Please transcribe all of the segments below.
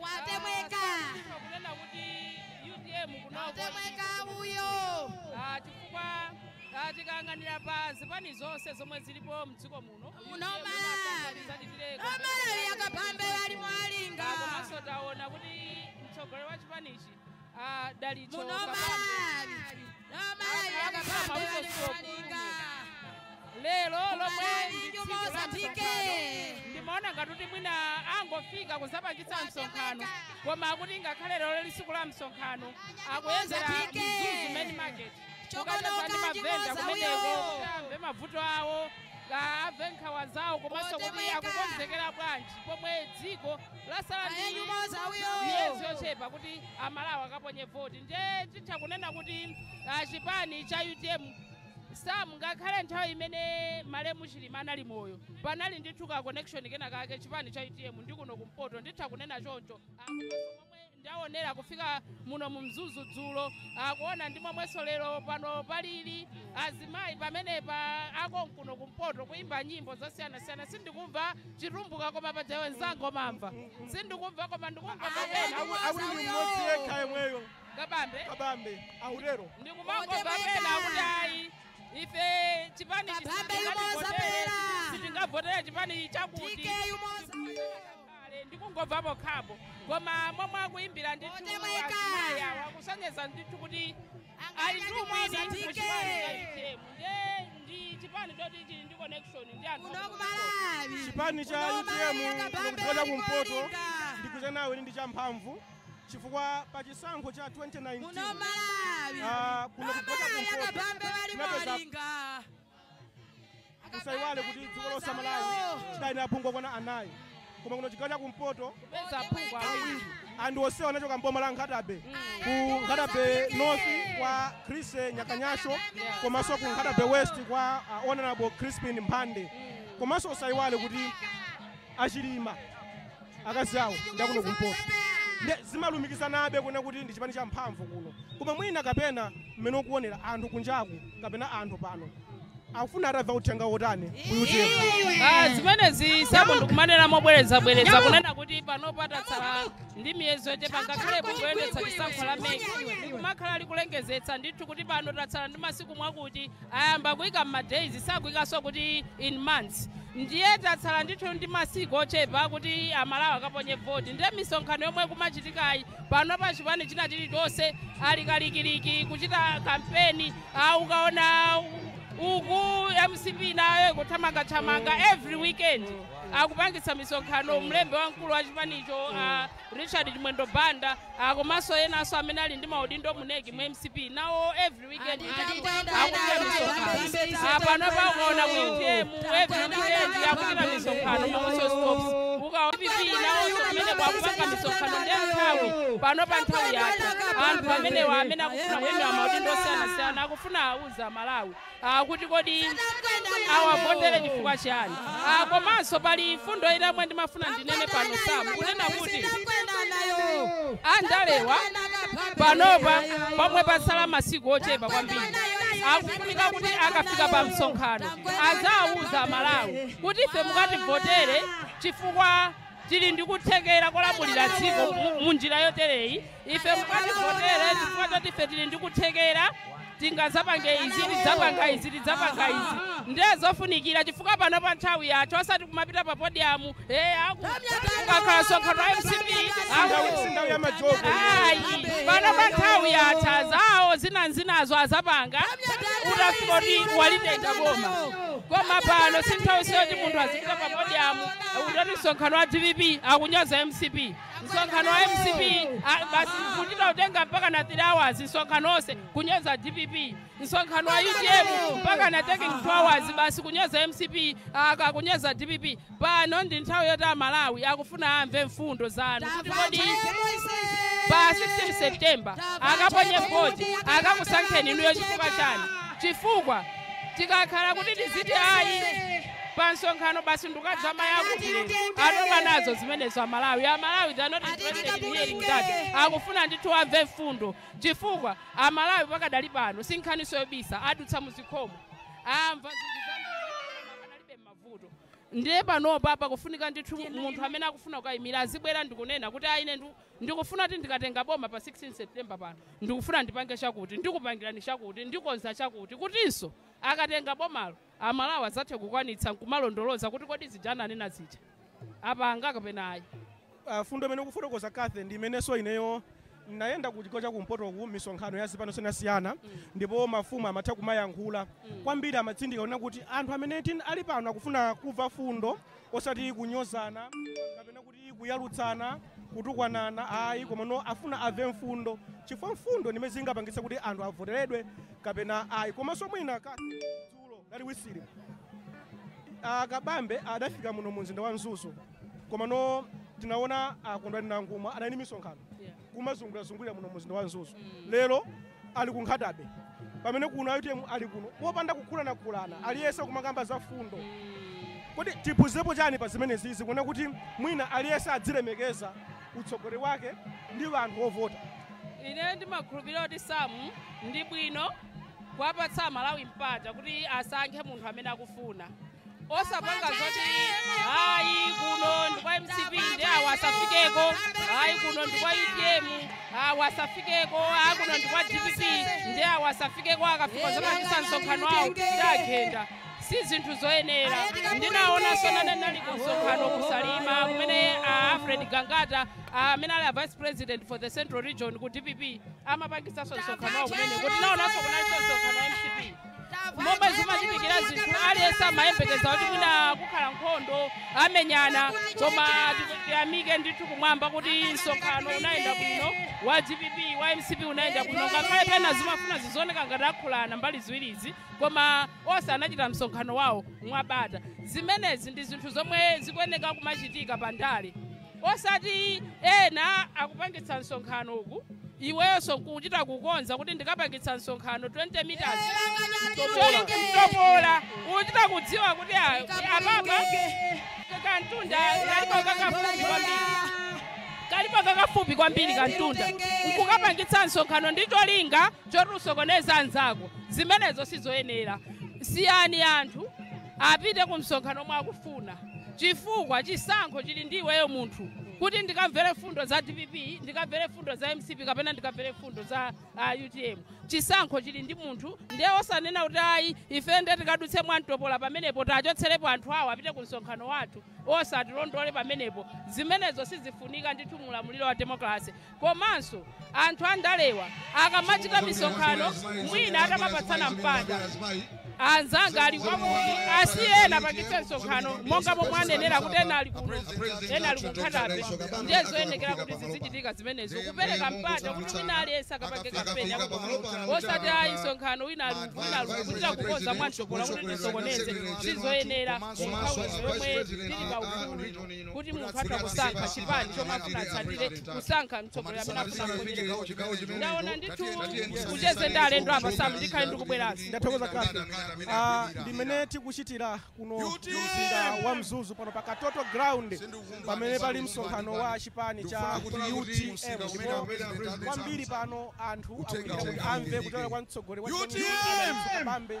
watemweka Ndifuna kunena kuti utm kuno watemweka uyo Ah, chifukwa ah, tikayang'anira pa zipani zonse zomwe zilipo mdziko muno Muno UTM ma- inasambali zati zile- amalawi a Kabambe wali mwalinga Ah, komanso taona kuti mtsogoleri wa chipanichi a dalitso Kabambe akuyambira mabuso sukulu lero lomwe ndi tsiku la msonkhano ndimaona ngati kuti mwina angofika kuzapangitsa msonkhano koma akuti ngakhale lero lili tsiku la msonkhano akuyendera mzuzu main market kukacheza ndi mavenda kumeneko kuti amve mavuto awo amve nkhawa zawo komanso kuti akukonzekera bwanji pomwe dziko Lasala ndi miyezi yochepa kuti amalawi akaponye voti nde nditha kunena kuti ah, chipani cha utm sam ngakhale nthawi imene malemu chilima anali moyo panali ndithu ka connection kena kake chipani cha utm ndi kuno kumpoto nditha kunena choncho Ah, komanso momwe Ndawonera kufika muno mu Mzuzu dzulo, kuona ndi momwenso lero pano palili. Azimayi pamenepa akonkuno kumpoto kuyimba nyimbo zosiyanasiyana, sindikumva chitumbuka koma paja iwe mzanga umamva. Sindikumva koma ndikumva pena akuti ndi mmodzi yekha yemweyo Kabambe akutero. ndikumangomva pena kuti ayi ife chipani sitingavotere chipani chakuti. Kale ndikungomva pokhapo koma momwe akuimbira ndithu azimayi awa akusonyeza ndithu kuti ali ndi umwini mu chipani cha utm nde ndi chipani choti chili ndi connection ndi anthu chipani cha utm ndikuchokera kumpoto ndikugwirizana nawe kuti ndi champhamvu chifukwa pa chisankho cha 2019 ah, kuno chigawo cha kumpoto tinapeza usaiwale kuti dziko lonse malawi chidali ndi aphungu okwana anayi koma kuno chigawo cha kumpoto kupeza aphungu awiri anthu onsewa anachoka mboma la nkhata bay ku nkhata bay north kwa chrissie nyakanyasho komanso ku nkhata bay west kwa uh, honorable crispin mphande komanso usaiwale kuti achilima akazi awo ndi akuno kumpoto nde zimalumikizanabe kunena kuti ndi chipani cha mphamvu kuno koma mwina kapena mmene ukuonera anthu kunjaku kapena anthu pano akufuna atamva uthenga wotani ku utm Ah, zimenezi sam ndikumanena mobwerezabwereza kunena kuti pano patatsala ndi miyezi yochepa ngakhale bungwe loyendetsa chisankho la mec likumakhala likulengezetsa ndithu kuti pano tatsala ndi masiku mwakuti Ayamba kuika m'ma days sakuikanso kuti in months ndiye tatsala ndithu ndi masiku ochepa kuti amalawi akaponye vote ndiye misonkhano yomwe ikumachitikayi panopa chipani china chilichonse ali kalikiliki kuchita kampeni ah, ukaona uku mcp nayo ikuthamangathamanga every weekend akupangitsa misonkhano mlembi wamkulu wa chipanicho ah, richard chimwendo banda ah, komanso enanso amene ali ndi maudindo mu neki mu mcp nawo every panopa ukaona ku utm every weekend akuchita misonkhano ma whistle stops ukaona dpp nawonso kumeneko akupanga misonkhano ndiye nthawi panopa nthawi yake anthu amenewa amene akufuna kuimira maudindo osiyanasiyana akufuna auze amalawi kuti kodi awavotere chifukwa chani Ah, komanso pali mfundo ina yomwe ndimafuna ndinene pano sam kunena kuti andalewa panopa pomwe patsala masiku ochepa kwambiri akufunika kuti akafika pa msonkhano aziwauza amalawi kuti ife mukativotere chifukwa Tili ndi kuthekera kolamulira dziko mu njira yotereyi. Ife mukativotere chifukwa choti ife tili ndi kuthekera tingazapange izi, tidzapanga izi, tidzapanga izi. Ndiye zofunikira chifukwa panopa nthawi yatha osati kumapita pa podiyamu eh aku kukakhala msonkhano wa MCP aku Sindawu ya majogo. ayi panopa nthawi yatha zawo zinazinazo azapanga utafika kuti alitenga boma koma pano si nthawinso yoti munthu azipita pa podiyamu Ndikuti msonkhano wa dpp akunyoza mcp msonkhano wa mcp ah, basi kuchita kutenga mpaka na 3 hours msonkhano onse kunyoza dpp msonkhano wa utm mpaka na taking 2 hours basi kunyoza mcp kaya kunyoza dpp pano ndi nthawi yoti amalawi akufuna amve mfundo zanu kuti kodi pa 16 september akaponye voti akakusankheni inuyo chifukwa chani chifukwa tikakhala kuti tiziti ayi pa msonkhano basi nkukatsamaya kuti lero atopa nazo zimenezo amalawi amalawi they are not interested in hearing that akufuna ndithu amve mfundo chifukwa amalawi pakadali pano sinkhaniso yobisa adutsa muzikhomo amva zinthu zambiri mavuto ndiye panopa pakufunika ndithu munthu amene akufuna kukayimira azibwera ndikunena kuti ayi ine ndu- ndikufuna kuti ndikatenga boma pa 16 september pano ndikufuna ndipange chakuti ndikupangirani chakuti ndikonza chakuti kutinso akatenga bomalo a Malawi adzathe kukwanitsa nkumalondoloza kuti kodi zija ananena zija apanga kapena ayi. a Fundo imene ukufotokoza Cathy ndi imenenso ineyo ndinayenda ku chigawo cha kumpotoku misonkhano ya zipani siyana-siyana ndipo mafumu amatha kumayankhula kwambiri amatsindika kunena kuti anthu amene tin- ali pano akufuna kumva fundo osati kunyozana kapena kuti Ndi kuyalutsana, kutukwanana ayi komano afuna ave mfundo chifukwa mfundo ndi zimene zingapangitse kuti anthu avoteredwe kapena ayi komanso mwina ka dzulo lalitsiku a kabambe adafika muno mu mzinda wa mzuzu komano tinaona a kondwani nankhumwa adali ndi misonkhano Yeah. kumazungulirazungulira muno mu mzinda wa mzuzu lero ali ku nkhatabe pamene kuno a utm ali kuno popanda kukhulanakhulana aliyense kumakamba za mfundo kodi tiphunzirepo chani pa zimenezizi kuona kuti mwina aliyense adzilemekeza utsogoleri wake ndi anthu ovota ine ndimakhulupirira kuti Sam ndi bwino kuwapatsa amalawi mpata kuti asankhe munthu amene akufuna osapanga zoti ayi kuno ndi kwa mcp ndi awo asafikeko ayi kuno ndi kwa utm awo asafikeko ayi kuno ndi kwa dpp ndi awo asafikeko akafika adzapangitsa msonkhano awo ndiwagenda si zinthu zoyenera ndinaonanso nane nali ku msonkhano kusalima kumene a alfred gangata amene ali a vice president for the central region ku dpp amapangitsanso msonkhano wawo kumene kuti naonanso kunalinso msonkhano wa mcp momwe zimachitikira zinthu aliyense amayembekeza kuti mwina kukhala nkhondo amenyana koma tiku- tiyamike ndithu kumwamba kuti msonkhano unayenda bwino wa dpp wa mcp unayenda bwino ngakhale pena zimafuna zizioneka ngati akhulana mbali ziwirizi koma onse anachita msonkhano wawo mwabata zimenezi ndi zinthu zomwe zikuyeneka kumachitika pa ndale osati ena akupangitsa msonkhano uku iwenso kuchita kukonza kuti ndikapangitse msonkhano 20 meters mtopola uchita kudziwa kuti a- apapa kantunda kalipo kakafupi kwambiri kantunda nkukapangitsa msonkhano ndi cholinga choti usokoneze anzako zimenezo sizoyenera siyani anthu apite ku msonkhano omwe akufuna chifukwa chisankho chili ndi iweyo munthu kuti ndikamvere mfundo za dpp ndikamvere mfundo za mcp kapena ndikamvere mfundo za uh, utm chisankho chili ndi munthu ndiye osanena kuti ayi ife nde tikadutse mwamtopola pamenepo tawachotserepo anthu awo apite ku msonkhano wathu osatilondole pamenepo zimenezo sizifunika ndithu mu ulamuliro wa demokrasi Komanso anthu andalewa akamachita misonkhano mwina atamapatsana mpata, anzanga ali kwakuti asiye ena apangitse msonkhano monga momwe anenera kuti ena ali kuno ena ali ku nkhatabe ndiye zoyenekera kuti zizichitika zimenezo kupereka mpata kuti wina aliyense akapange kampeni yako pamodzi osati ayi msonkhano wina ali uku wina ali uku kuchita kukonza mwamtopola kuti tisokoneze sizoyenera kunthawi yomwe tili pa ufulu kuti munthu atha kusankha chipani chomwe afuna atsatire kusankha mtsogoleri amene afuna kuchitira ndaona ndithu kucheze ndi alendo apa sam ndikhale ndikubweranso ndathokoza kathe Ah, ndimene tikuchitira kuno mu mzinda wa mzuzu pano pa katoto ground pamene pali msonkhano wa chipani cha utm ndipo kwambiri pano anthu akuchita kuti amve kuchoka kwa mtsogoleri wa chipani cha utm kabambe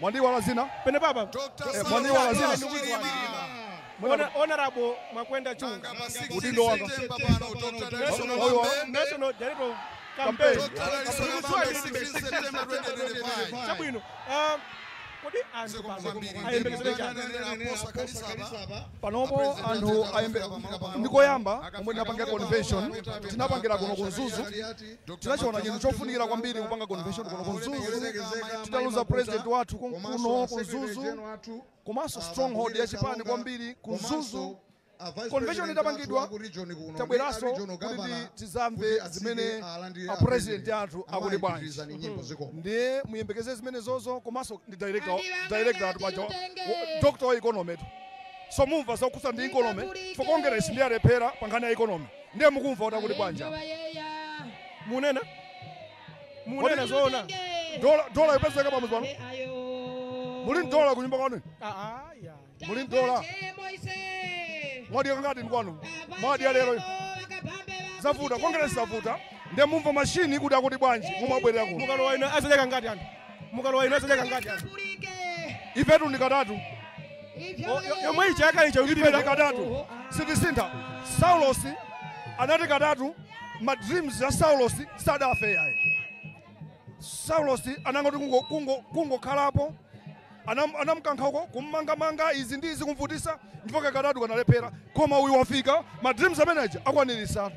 Mwandiiwala dzina pene papa eh, mwandiiwala dzina Honorable Makwenda Chunga udindo wanga National Director of Campaign chabwino ah, kodi anthu ayembekezere chani panopo anthu ayembe ndikoyamba omwe tinapangira convention tinapangira kuno ku mzuzu tinachiona chinthu chofunikira kwambiri kupanga convention kuno ku mzuzu titaluza president wathu ku- kuno ku mzuzu komanso stronghold ya chipani kwambiri ku mzuzu convention itapangidwa tabweranso kuti tizamve zimene apresident athu akuti bwanji ndiye muyembekeze zimenezozo komanso ndi director director athu paja wa- wa- doctor wa economy tu so mumva zokhudza ndi economy for congress ndi alephera pa nkhani ya economy Ndiye mukumva kuti akuti bwanji apa? Munena? Munena zoona? Dola dola yopezeka pamudzi pano. Muli n'dola kunyumba kwanu? Ah ah ya. Muli n'dola. Mwadya kangati kwanu? Mwadya lero. Zavuta, kongeresi zavuta. Ndiye mumva mashini kuti akuti bwanji? Mumabwerera kuno. Mukalowa inu azadya kangati anthu. mukalowa inu azadya kangati anthu ifetu ndi katatu O- yo- yomwe ija yakale ija ulibe ifetu katatu sitisintha saulosi anati katatu ma dreams ya saulosi sadafe yaye saulosi anangoti kungo- kungo- kungokhalapo Anam- anamkankha uko kummangamanga izi ndi izi kumvutisa ndipo kakatatu kanalephera koma uyu wafika ma dreams ameneja akwanirisatu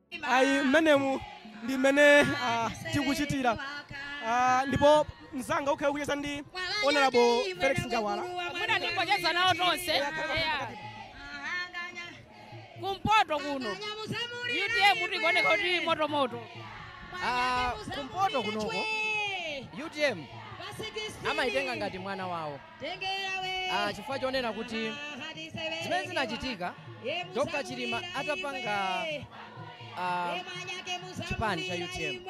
ayi mmenemu ndi mmene ah, tikuchitira Ah, ndipo mzanga ukhale kucheza ndi honorable felix njawala mwina ndingocheza nawo tonse eya. kumpoto kuno utm tikuoneka kuti motomoto Ah, kumpoto kunoko utm amaitenga ngati mwana wawo ah, chifukwa chonena kuti zimene zinachitika Dr. Chilima atapanga ah, chipani cha UTM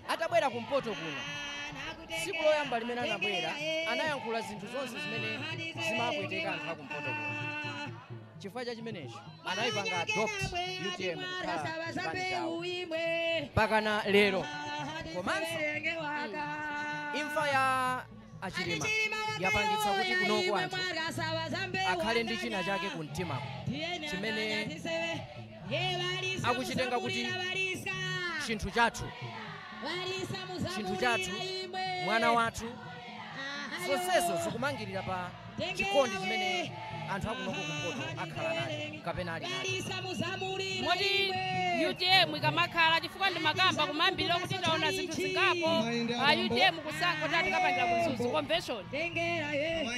atabwera kumpoto kuno tsiku loyamba limene anabwera anayankhula zinthu zonse zimene zimapweteka anthu akumpoto kuno chifukwa cha chimenecho anayipanga adopt utm kukhala chipani chawo mpakana lero komanso imfa ya a chilima yapangitsa kuti kunoku anthu akhale ndi china chake ku mtimako chimene akuchitenga kuti chinthu chathu chinthu chathu mwana wathu zonsezo zikumangirira pa chikondi chimene anthu akunoko kumpoto akhala nacho kapena ali nacho moti utm ikamakhala chifukwa ndimakamba kumayambiriro kuti taona zinthu zingapo a utm kusankha tikapangira ku mzuzu convention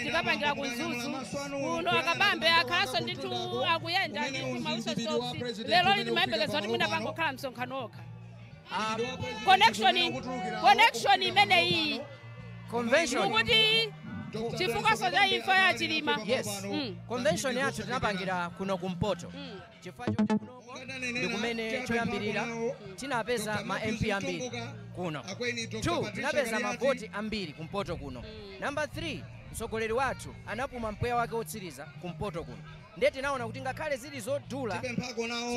tikapangira ku mzuzu kuno a kabambe akhalanso ndithu akuyenda ndithu mausosofi lero liti timayembekeza kuti mwina pangokhala msonkhano wokha Ah, connection connection imene iyi convention mukuti chifukwa cha imfa ya chilima yes Mm. convention yathu tinapangira kuno kumpoto Mm. chifukwa choti kuno ndi kumene choyambirira tinapeza ma mp ambiri kuno two tinapeza mavoti ambiri kumpoto kuno number three mtsogoleri wathu anapuma mpweya wake wotsiriza kumpoto kuno Nde tinaona kuti ngakhale zili zodula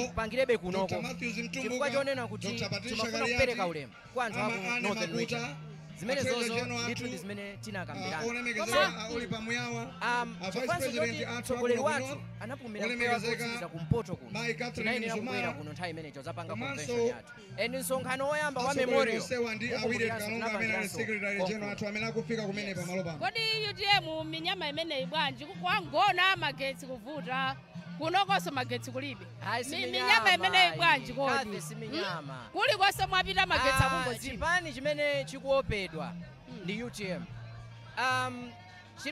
tipangirebe kunoko chifukwa chonena kuti timafuna kupereka ulemu kwa anthu aku northern region zimenezozo ndithu ndi zimene tinakambirana chifukwanso choti mtsogoleri wathu anapumira mpweya wake wotsiriza kumpoto kuno tinayenera kubwera kuno nthawi imeneyo kudzapanga convention yathu and msonkhano woyamba wa memorial kodi utm minyama imeneyi bwanji kwa ngona magetsi kuvuta kunokonso magetsi kulibe minyama imeneyi bwanji kodi hmm? kulikonse mwapita magetsi ah, akungozipa chipani chimene chikuopedwa hmm. ndi utm um,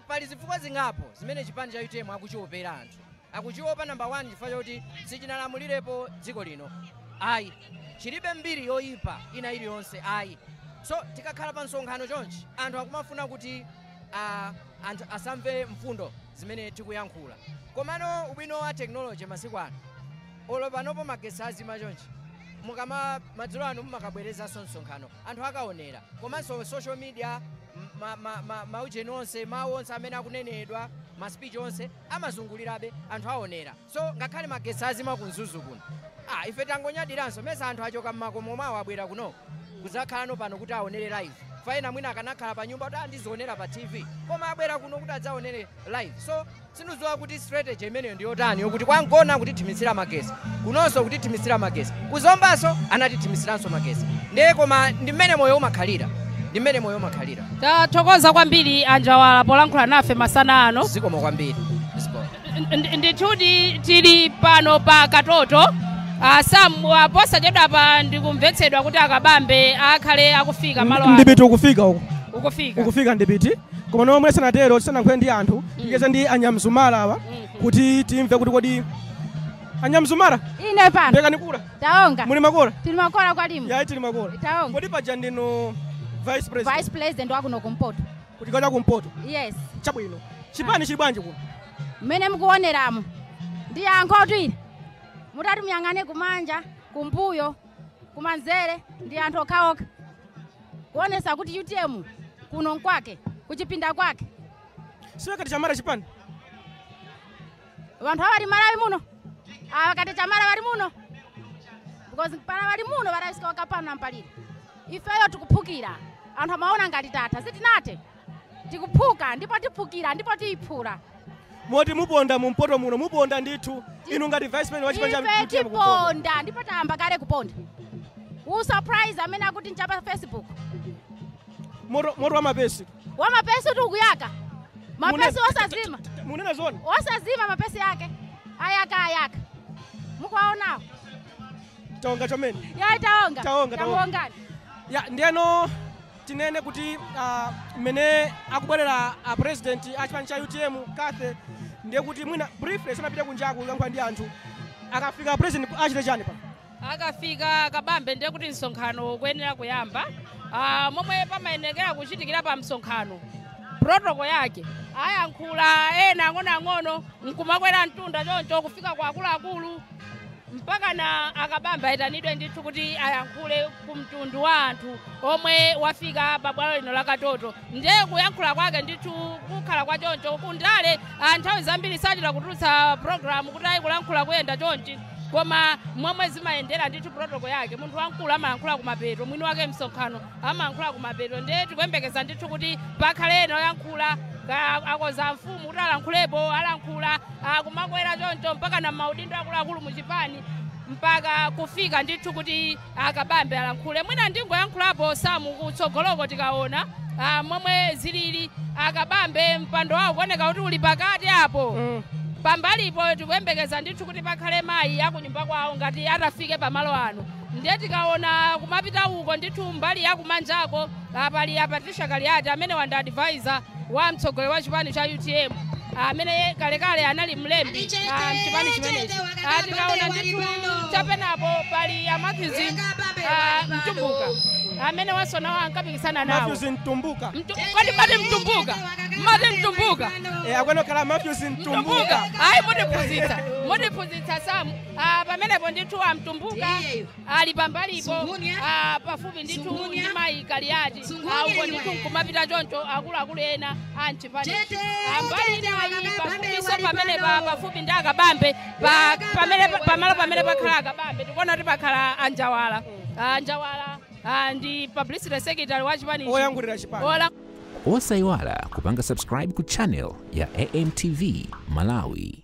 pali zifukwa zingapo zimene chipani cha utm akuchiopera anthu akuchiopa number 1 chifukwa choti sichinalamulirepo dziko lino ayi chilibe mbiri yoyipa ina iliyonse ayi so tikakhala pa msonkhano chonchi anthu akumafuna kuti ah, anthu asamve mfundo zimene tikuyankhula komano ubwino wa tekinoloji masiku ano olo panopo magesi azima chonchi mukamati madzulo ano mumakabwerezanso msonkhano anthu akaonera komanso social media ma- ma- ma- maujeni onse mawu onse amene akunenedwa maspeech onse amazungulirabe anthu aonera so ngakhale magetsi azima ku mzuzu kuno ah, ife tangonyadiranso mesa anthu achoka mmakomo mwawo abwera kuno kudzakhalano pano kuti aonere live pamene mwina akanakhala pa nyumba kuti andizionera pa tv koma abwera kuno kuti adzaonere live so sindidziwa kuti strategy imeneyo ndi yotani yokuti kwa ngona kutithimitsira magesi kunonso kutithimitsira magesi ku zombanso anatithimitsiranso magesi ndiye koma ndi mmene moyo umakhalira ndi mmene moyo umakhalira Tathokoza kwambiri a Njawala polankhula nafe masana ano. zikomo kwambiri Ndi- ndithu tili pano pa Katoto Ah, sam ah, posachedwapa ndikumvetsedwa kuti a Kabambe akhale akufika malo ano. ndipiti ukufika uko ukufika ukufika ndipiti koma pomwe sanatero tisanayankhule ndi anthu ticheze ndi a Nyamzumara awa kuti timve kuti kodi a Nyamzumara ine pano ndekanikula taonga muli makola tili makola kwali imwe yayi tili makola taonga kodi paja ndinu vice president vice president wakuno kumpoto kuti kacha kumpoto yes chabwino chipani chili bwanji kuno mmene mukuoneramo ndi yankho tu ili mutati mungoyang'ane kumanja kumbuyo kumanzere ndi anthu okhaokha kuonesa kuti UTM kuno nkwake kuchipinda kwake si wakati chamara chipani wanthu awa wali Malawi muno awa wakati chamara wali muno because para wali muno varaisika vakapana mupaliri ifeyo tikuphukira anthu amaona ngati tatha sitinathe tikuphuka ndipo tiphukira ndipo tiyiphula moti muponda mumpoto muno muponda ndithu inu ngati vice president wa chipani cha UTM kuponda. tiponda ndipo tayamba kale kuponda surprise amene akuti nchapa Facebook moto moto wa mapesi wa mapesi uti ukuyaka mapesi Munena- osazima mukunena zoona osazima mapesi yake ayaka ayaka mukuwaonawo taonga chomene yayi taonga Taonga, taonga. tamuongani ya ndiyeno tinene kuti ah, mmene akubwerera a president a chipani cha UTM kathe ndiye kuti mwina briefly tisanapite kunjaku kulankhula ndi anthu akafika president achite chani pa akafika a Kabambe ndiye kuti msonkhano ukuyenera kuyamba Ah, momwe pamayenekera kuchitikira pa msonkhano protocol yake ayankhula ena ang'onoang'ono nkumakwera mtunda choncho kufika kwa akuluakulu mpakana a Kabambe ayitanidwe ndithu kuti ayankhule ku mtundu wa anthu omwe wafika pa bwalo lino la Katoto ndiye kuyankhula kwake ndithu kukhala kwa choncho kundale ah, nthawi zambiri sachita kutulutsa program kuti ayi kulankhula kuyenda chonchi koma momwe zimayendera ndithu protocol yake munthu wamkulu amayankhula kumapeto mwini wake msonkhano amayankhula kumapeto ndiye tikuyembekeza ndithu kuti pakhale ena oyankhula ka- akoza mfumu kuti alankhulepo alankhula kumakwera choncho mpakana maudindo akuluakulu mu chipani mpaka kufika ndithu kuti A Kabambe alankhule. Mwina ndingoyankhulapo Sam kutsogoloko tikaona ah, momwe zilili. A Kabambe mpando wawo kuoneka kuti uli pakati apo. Pambalipo tikuyembekeza ndithu kuti pakhale mayi akunyumba kwawo ngati atafike pamalo ano. Ndiye tikaona kumapita uko ndithu mbali yakumanjako ah, pali a Patricia Kaliati amene ndi advisor wa mtsogoleri wa chipani cha utm amene ye- kalekale anali mlembi ah, mchipani chimenechi Ah, tikaona ndithu chapenapake pali a Matthews ah, mtumbuka amene posachedwapa ankapikisana nawo Matthews Mtumbuka. Mtu- kodi timati mtumbuka mati mtumbuka Eh, akwenokhala Matthews mtumbuka Mtumbuka. ayi mutiphunzitsa mutiphunzitsa samu Ah, pamenepo ndithu amtumbuka ali pambalipo ah, pafupi ndithu ndi mayi kaliyati uko ndithu nkumapita choncho akuluakulu ena a mchipani mbali inayi pafupiso pamene pa- pafupi ndi akabambe pa- pamene pa- pamalo pamene pakhala akabambe tikuona kuti pakhala a njawala a njawala ah, ndi publicity secretary wa chipani Oyankhulira chipani. Ola- osayiwala kupanga subscribe ku channel ya amtv malawi